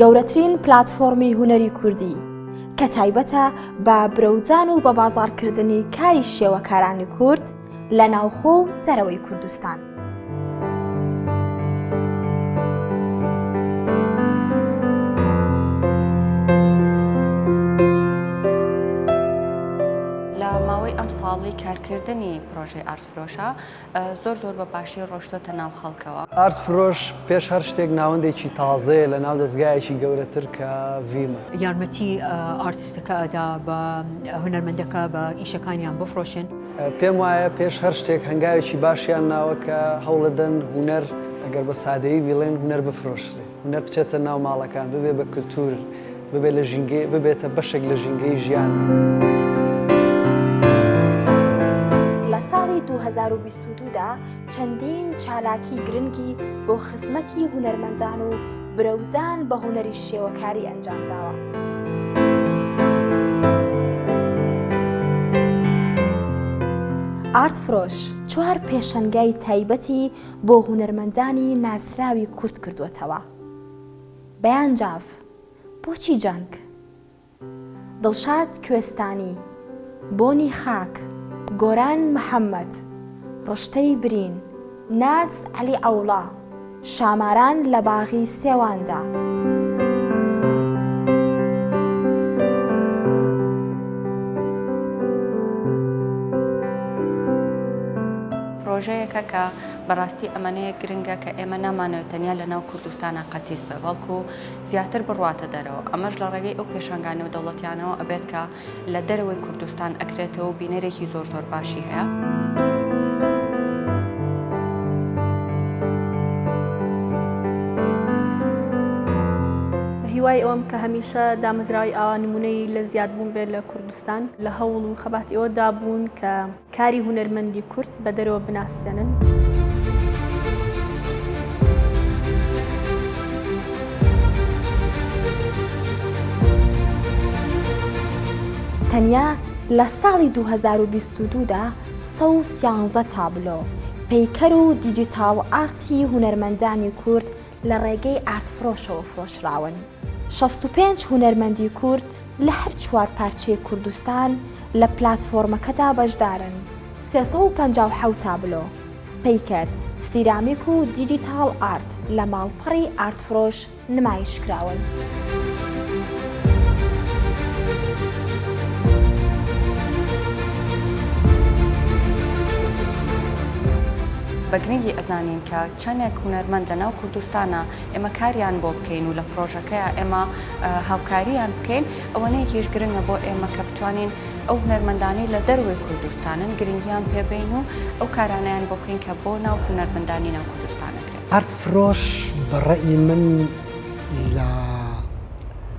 گەورەترین پلاتفۆرمی هونەری کوردی کە تایبەتە بە برەودان و بە بازاڕکردنی کاری شێوەکارانی کورد لە ناوخۆ و دەرەوەی کوردستان. لە ماوەی ئەم ساڵی کارکردنی پرۆژەی ئارت فرۆشە زۆر زۆر بە باشی ڕۆشتۆتە ناو خەڵکەوە. ئارت فرۆش پێش هەر شتێک ناوەندێکی تازەیە لە ناو دەزگایەکی گەورەتر کە ڤیمە. یارمەتی ئارتستەکە ئەدا بە هونەرمەندەکە بە ئیشەکانیان بفڕۆشن. پێم وایە پێش هەر شتێک هەنگاوێکی باشیان ناوە کە هەوڵەدەن هونەر ئەگەر بە سادەیی بیڵێن هونەر بفرۆشرێ. هونەر بچێتە ناو ماڵەکان، ببێ بە کلتور، ببێ لە ژینگەی، ببێتە بەشێک لە ژینگەی ژیان. لە ساڵی دوو هەزار و بیست و دوو دا چەندین چالاکی گرنگی بۆ خزمەتی هونەرمەندان و برەودان بە هونەری شێوەکاری ئەنجام داوە. ئارت فرۆش چوار پێشەنگای تایبەتی بۆ هونەرمەندانی ناسراوی کورت کردووەتەوە. بەیان جاف، بۆچی جەنگ؟ دڵشاد کوێستانی، بۆنی خاک، گۆران محەمەد، ڕشتەی برین، ناز عەلی عەوڵا، شاماران لە باغی سێواندا. پرۆژەیەکە کە بەڕاستی ئەمەنەیەک گرنگە کە ئێمە نامانەوێت تەنیا لە ناو کوردستانا قەتیس بێت بەڵکو زیاتر بڕواتە دەرەوە ئەمەش لە ڕێگەی ئەو پێشانگا نێودەوڵەتیانەوە ئەبێت کە لە دەرەوەی کوردستان ئەکرێتەوە و بینەرێکی زۆر زۆر باشی هەیە. هیوای ئەوەم کە هەمیشە دامەزراوی ئاوا نمونەی لە زیادبوون بێت لە کوردستان لە هەوڵ و خەبات ئێوەدا بوون کە کاری هونەرمەندی کورد بە دەرەوە بناسێنن. تەنیا لە ساڵی دوو هەزار و بیست و دوو دا سەد و سیانزە تابلۆ، پەیکەر و دیجیتاڵ ئارتی هونەرمەندانی کورد، لە ڕێگەی ئارتفرۆشەوە فرۆشراون. شەست و پێنج هونەرمەندی کورد لە هەر چوار پارچەی کوردستان لە پلاتفۆرمەکەدا بەشدارن. سێ سەد و پەنجا و حەوت تابلۆ، پەیکەر، سیرامیک و دیجیتاڵ ئارت لە ماڵپەڕی ئارتفرۆش نمایشکراون. بە گرنگی ئەزانین کە چەندێک هونەرمەند لە ناو کوردستانە ئێمە کاریان بۆ بکەین و لە پرۆژەکەیا ئێمە هاوکاریان بکەین، ئەوەنەیەکیش گرنگە بۆ ئێمە کە بتوانین ئەو هونەرمەندانەی لە دەروەی کوردستانن گرنگیان پێ بەین و ئەو کارانەیان بۆ بکەین کە بۆ ناو هونەرمەندانی ناو کوردستان ئەکرێ. ئارت فرۆش بە ڕەئی من لە.